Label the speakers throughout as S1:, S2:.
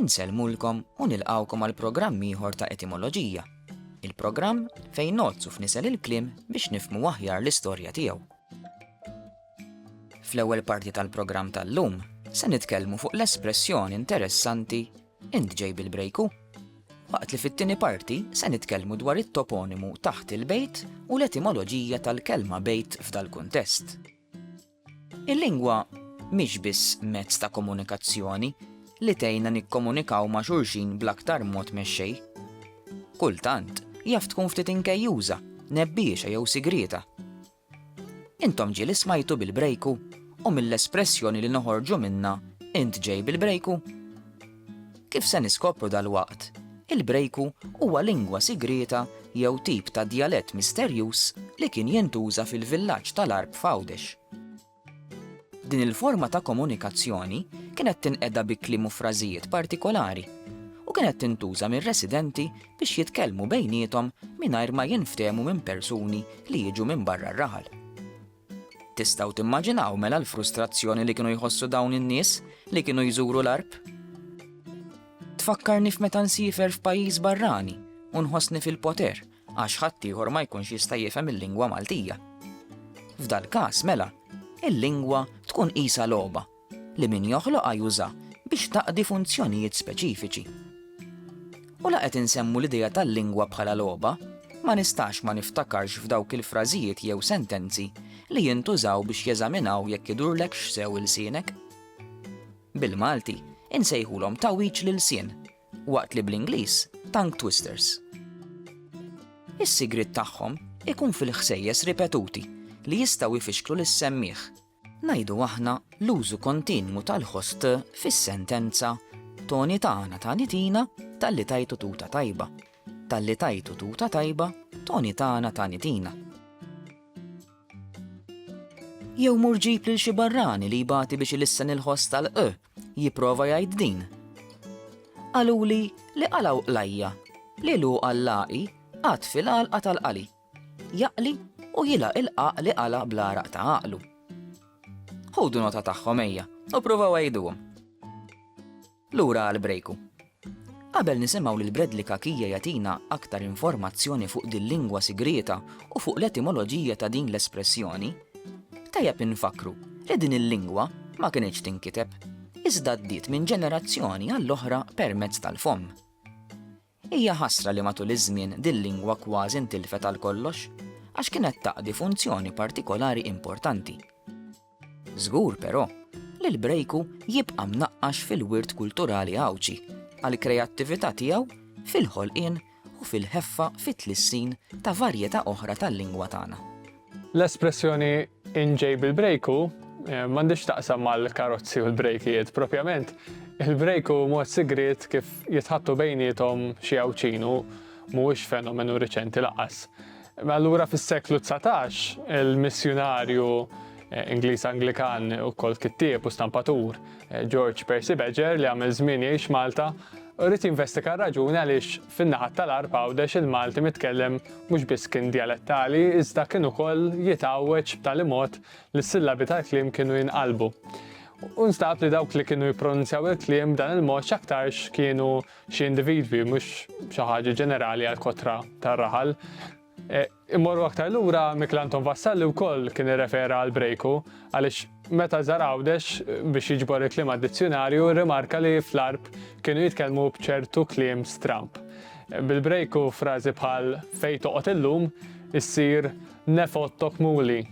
S1: Insellmulkom
S2: u nilqgħukom għal programm ieħor ta' Etimoloġija, il-programm fejn ngħoddsu f'nisel il-kliem biex nifhmu aħjar l-istorja tiegħu. Fl-ewwel parti tal-programm tal-lum se nitkellmu fuq l-espressjoni interessanti Int ġej bil-brejku? Waqt li fit-tieni parti se nitkellmu dwar it-toponimu taħt il-bejt u l-etimoloġija tal-kelma bejt f'dal-kuntest. Il-lingwa mhix biss mezz ta' komunikazzjoni li tgħinna nikkomunikaw ma' xulxin bl-aktar mod mexxej. Kultant jaf tkun ftit inkejjuża, nebbiexa jew sigrieta. Intom ġieli smajtu bil-brejku u mill-espressjoni li noħorġu minnha int ġej bil-brejku? Kif se niskopru dalwaqt, il-Brejku huwa lingwa sigrieta jew tip ta' djalett misterjuż li kien jintuża fil-villaġġ tal-Għarb f'Għawdex. Din il-forma ta' komunikazzjoni kienet tinqeda bi kliem u frażijiet partikolari u kienet tintuża mir-residenti biex jitkellmu bejniethom mingħajr ma jinftehmu minn persuni li jiġu minn barra r-raħal. Tistgħu timmaġinaw mela l-frustrazzjoni li kienu jħossu dawn in-nies li kienu jżuru l-għarb? Tfakkarni f'meta nsifer f'pajjiż barrani u nħossni fil-poter għax ħaddieħor ma jkunx jista' jifhem il-lingwa Maltija. F'dal-każ mela, il-lingwa tkun qisha logħba li min joħloqha juża biex taqdi funzjonijiet speċifiċi. U la qed insemmu l-idea tal-lingwa bħala logħba, ma nistax ma niftakarx f'dawk il-frażijiet jew sentenzi li jintużaw biex jeżaminaw jekk idurlek x'sew il-sienek. Bil-Malti, insejħulhom tawiċ lil sien, waqt li bl-Ingliż tongue twisters. Is-sigrit tagħhom ikun fil-ħsejjes ripetuti li jistgħu jfixklu lis-semmiħ ngħidu aħna, l-użu kontinwu tal-ħost fis-sentenza, Toni tana tani tina, talli tajtu tuta tajba. Talli tajtu tuta tajba, Toni tana tani tina. Jew mur ġib lil xi barrani li jbati biex ilissen il-ħost tal-q, jipprova jgħid din. Qaluli li qalaw qlajja, li lu għallaqi, qatt fil-għalqa tal-qali. Jaqli u jilaq il-qaq li qala' bl-għaraq ta' għaqlu. Ħudu nota tagħhom ejja u provaw għajduhom. Lura għal brejku. Qabel nisimgħu lil Bradley Kakija jagħtina aktar informazzjoni fuq din lingwa sigrieta u fuq l-etimoloġija ta' din l-espressjoni, tajjeb infakru li din il-lingwa ma kinitx tinkiteb, iżda ddiet minn ġenerazzjoni għall-oħra permezz tal-fomm. Hija ħasra li matul iż-żmien dil-lingwa kważi ntilfet għal kollox, għax kienet taqdi funzjoni partikolari importanti. Żgur, però, li l-Brejku jibqa' mnaqqax fil-wirt kulturali Għawdxi għall-kreattività tiegħu fil-ħolqien u fil-ħeffa fit-tlissin ta' varjetà oħra tal-lingwa tagħna. L-espressjoni
S3: inġej bil-brejku eh, m'għandix taqsam mal-karozzi u l-brejkijiet propjament. Il-brejku mod sigriet kif jitħattu bejnietom xi għawċinu mhuwiex fenomenu riċenti laqas. Allura fis-seklu 19 il-missjunarju eh, Ingliż Anglikan u kol kittieb u stampatur eh, George Percy Badger li għamil żmien jgħix Malta rrit jinvestika raġuni għaliex Fin-naħat tal-Għarb Għawdex il-Malti mitkellem mhux biss kien djalettali iżda kien ukoll jitgħawweġ b'tali mod li s-sillabi tal-kliem kienu jinqalbu. U nstab li dawk li kienu jippronunzjaw il-kliem b'dan il-mod x'aktarx kienu xi individwi mhux xi ħaġa ġenerali għall-kotra tar-raħal. E, Immorru aktar lura, Michel Anton Vassalli wkoll kien irrefera għal Brejku, għaliex meta żar Għawdex biex jiġbor il-kliem għad-dizzjunarju rrimarka li fl-Għarb kienu jitkellmu b'ċertu kliem stramb. Bil-Brejku frażi bħal fejn toqgħod illum issir nef ottok muli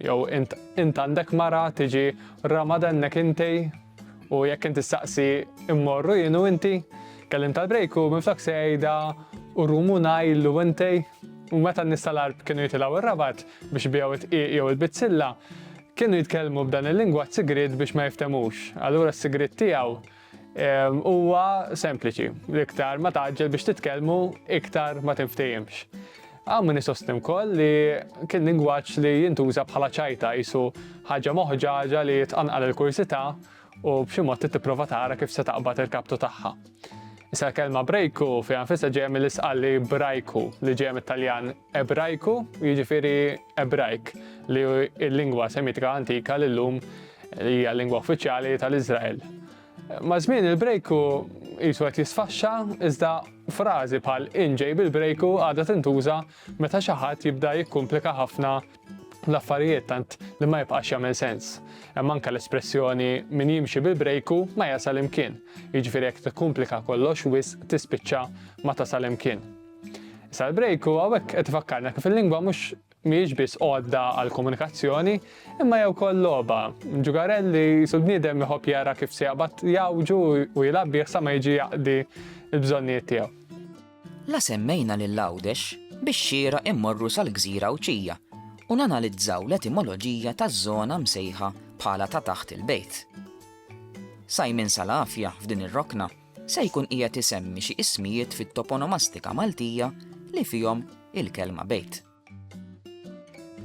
S3: jew int għandek mara tiġi ramadennek intej? U jekk inti staqsi immorru jien u inti, kellim tal-brejk u minflok se jgħidha u rumu ngħid u inti, u meta n-nies tal-arb kienu jitilgħu ir-rabat biex biegħu t-tqiq jew il-bizzilla, kienu jitkellmu b'dan il-lingwaġġ sigriet biex ma jiftemux. Allura s-sigriet tiegħu ehm, huwa sempliċi, l-iktar ma taġġel biex titkellmu, iktar ma tinftehimx. Hawn min isostni wkoll li kien lingwaġġ li jintuża bħala ċajta qisu ħaġa moħġaġa li tqanqal il-kurżità u b'xi mod trid tipprova tara kif se taqbad il-kaptu tagħha. Issa l-kelma brejku fiha nfisha ġejja mill-isqalli brajku li ġejja mit-Taljan ebrajku, jiġifieri ebrajk, li l-lingwa semitika antika li llum hija l-lingwa uffiċjali tal-Iżrael. Maż-żmien il-brejku qisu qed jisfaxxa, iżda frażi bħal in ġej bil-brejku għadha tintuża meta xi ħadd jibda jikkumplika ħafna l-affarijiet tant li ma jibqax jagħmel sens. Hemm anke l-espressjoni min jimxi bil-brejku ma jasal imkien, jiġifieri jekk tikkumplika kollox wisq tispiċċa ma tasal imkien. Issa l-brejku hawnhekk qed ifakkarna kif il-lingwa mhux Mhijiex biss għodda għall-komunikazzjoni, imma hija wkoll logħba. Ġugarell li qisu l-bniedem iħobb jara kif se jaqbad jgħawġu u jilgħab bih sa ma jiġi jaqdi l-bżonnijiet tiegħu. La
S2: semmejna lil Għawdex bix-xieraq immorru sal-gżira Għawdxija u nanalizzaw l-etimoloġija taż-żona msejħa bħala ta' taħt il-bejt. Simon Salafia f'din ir-rokna se jkun qiegħed isemmi xi ismijiet fit-toponomastika Maltija li fihom il-kelma bejt.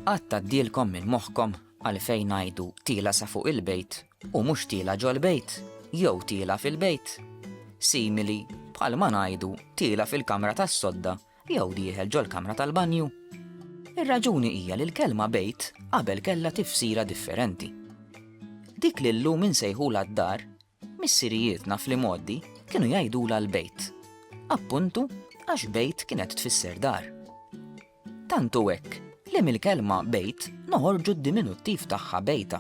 S2: Qatt tgħaddielkom minn moħħkom għalfejn ngħidu tiela sa fuq il-bejt u mhux tiela ġol-bejt jew tiela fil-bejt? Simili bħal ma ngħidu tiela fil-kamra tas-sodda jew dieħel ġol-kamra tal-banju. Ir-raġuni hija li l-kelma bejt qabel kellha tifsira differenti. Dik li llum insejħulha d-dar Missirijietna fl-imgħoddi kienu jgħidulha l-bejt, appuntu għax bejt kienet tfisser dar. Tant hu hekk li mill-kelma bejt noħorġu d-diminuttiv tagħha bejta,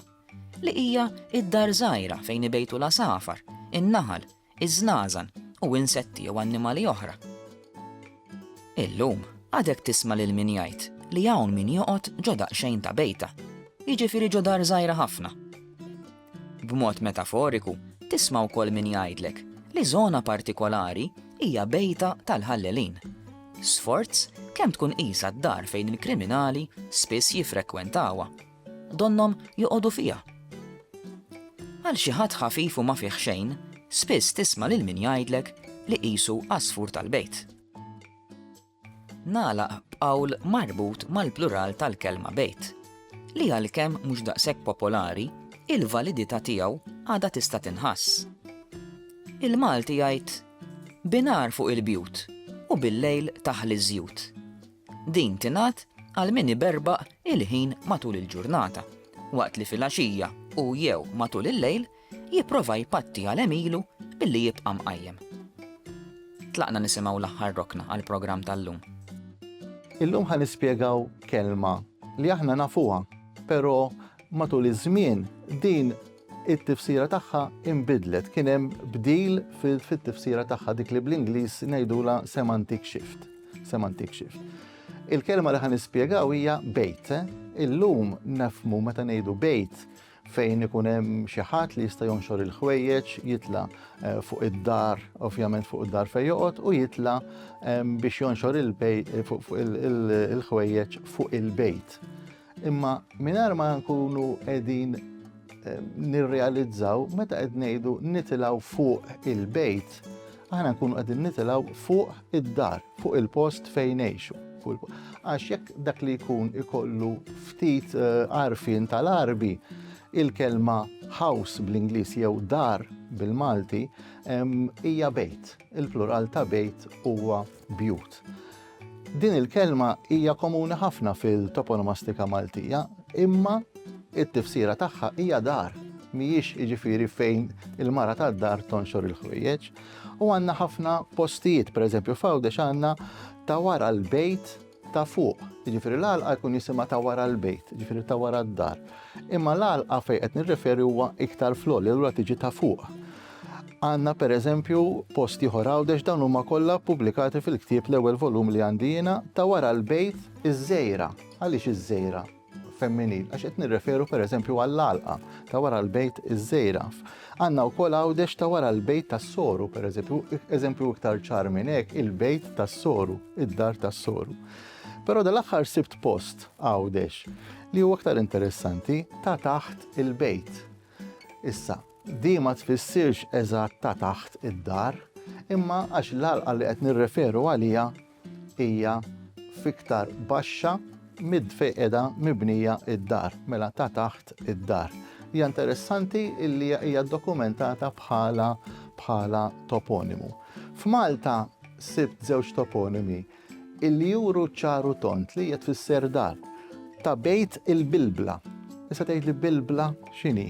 S2: li hija d-dar żgħira fejn ibejtu l-għasafar, in-naħal, iż-żnażan u insetti jew annimali oħra. Illum għadek tisma' lil min jgħid li hawn min joqgħod ġo daqsxejn ta' bejta, jiġifieri ġo dar żgħira ħafna. B'mod metaforiku, tisma' wkoll min jgħidlek li żona partikolari hija bejta tal-ħallelin. Sforz kemm tkun qisha d-dar fejn il-kriminali spiss jiffrekwentawha. Donnhom joqogħdu fiha. Għal xi ħadd ħafif u ma fih xejn, spiss tisma' lil min jgħidlek li qisu għasfur tal-bejt. Nagħlaq b'qawl marbut mal-plural tal-kelma bejt, li għalkemm mhux daqshekk popolari, il-validità tiegħu għadha tista' tinħass. Il-Malti jgħid, Bin-nhar fuq il-bjut u bil-lejl taħli ż-żjut. Din tingħad għal min iberbaq il-ħin matul il-ġurnata, waqt li fil-għaxija u jew matul il-lejl jipprova jpatti għal għemilu billi jibqa' mqajjem. Tlaqna nisimgħu l-aħħar rokna għall-programm tal-lum.
S4: Illum ħa nispjegaw kelma li aħna nafuha, però matul iż-żmien din it-tifsira tagħha imbidlet kien hemm bdil fit-tifsira tagħha dik li bl-Ingliż ngħidula semantic shift. Semantic shift. Il-kelma li ħan nispjegaw hija bejt. Eh? Illum nafmu meta ngħidu bejt Fejn ikun hemm xi ħadd li jista' jonxor il-ħwejjeġ, jitla' fuq id-dar, ovvjament fuq id-dar fejn joqgħod, u jitla' biex jonxor il-ħwejjeġ fuq il-bejt. Imma mingħajr ma nkunu qegħdin nirrealizzaw meta qed ngħidu nitilgħu fuq il-bejt, aħna nkunu qegħdin nitilgħu fuq id-dar, fuq il-post fejn ngħixu. Għax jekk dak li jkun ikollu ftit eh, għarfien tal-arbi, il-kelma house bl-Ingliż jew dar bil-Malti hija bejt. Il-plural ta' bejt huwa bjut. Din il-kelma hija komuni ħafna fil-toponomastika Maltija, imma it-tifsira tagħha hija dar, mhijiex jiġifieri fejn il-mara tad-dar tonxor il-ħwejjeġ. U għandna ħafna postijiet, pereżempju f'Għawdex għandna ta' wara l-bejt ta' fuq. Jiġifieri l-għalqa jkun jisimha ta' wara l-bejt, jiġifieri ta' wara d-dar. Imma l-għalqa fejn qed nirreferi huwa iktar floli, allura tiġi ta' fuq. Għandna pereżempju post ieħor Għawdex dawn huma kollha ppubblikati fil-ktieb l-ewwel volum li għandi jiena ta' wara l-bejt Iż-Żejra. Għaliex Iż-Żejra femminil? Għax qed nirreferu pereżempju għall-għalqa ta' wara l-bejt Iż-Żejra. Għandna wkoll Għawdex ta' wara l-bejt tas-Soru pereżempju, eżempju iktar ċar minn hekk il-bejt tas-Soru, id-dar tas-Soru. Però dal-aħħar sibt post Għawdex li huwa aktar interessanti ta' taħt il-bejt. Issa, Din ma tfissirx eżatt ta' taħt id-dar, imma għax l-għalqa li qed nirreferu għaliha hija fiktar baxxa mid fejn qiegħda mibnija id-dar, mela ta' taħt id-dar. Hija interessanti illi hija dokumentata bħala bħala toponimu. F'Malta sibt żewġ toponimi illi juru ċar u tond li hija tfisser dar ta' bejt il-bilbla. Issa tgħid li bilbla x'inhi?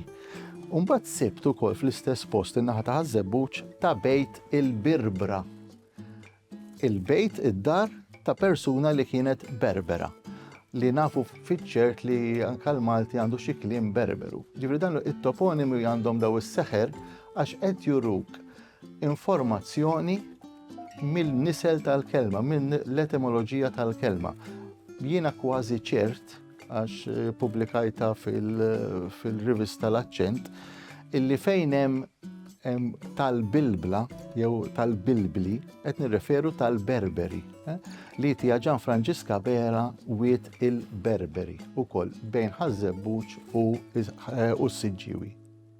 S4: Umbagħad sibt ukoll fl-istess post in-naħa ta' ħażebbuċ ta' bejt il-birbra. Il-bejt id-dar ta' persuna li kienet berbera li nafu fiċċert li anka l-Malti għandu xi kliem berberu. Ġifri dan it-toponimi għandhom daw is-seħer għax qed juruk informazzjoni mill-nisel tal-kelma, mill-etimoloġija tal-kelma. Jiena kważi ċert, għax eh, publikajta fil-rivista fil l-accent, illi fejn hemm tal-bilbla jew tal-bilbli qed nirreferu tal-berberi eh, li tija ġan Franġiska Bera wiet il-berberi u koll bejn ħazzebbuċ u eh, s-siġġiwi.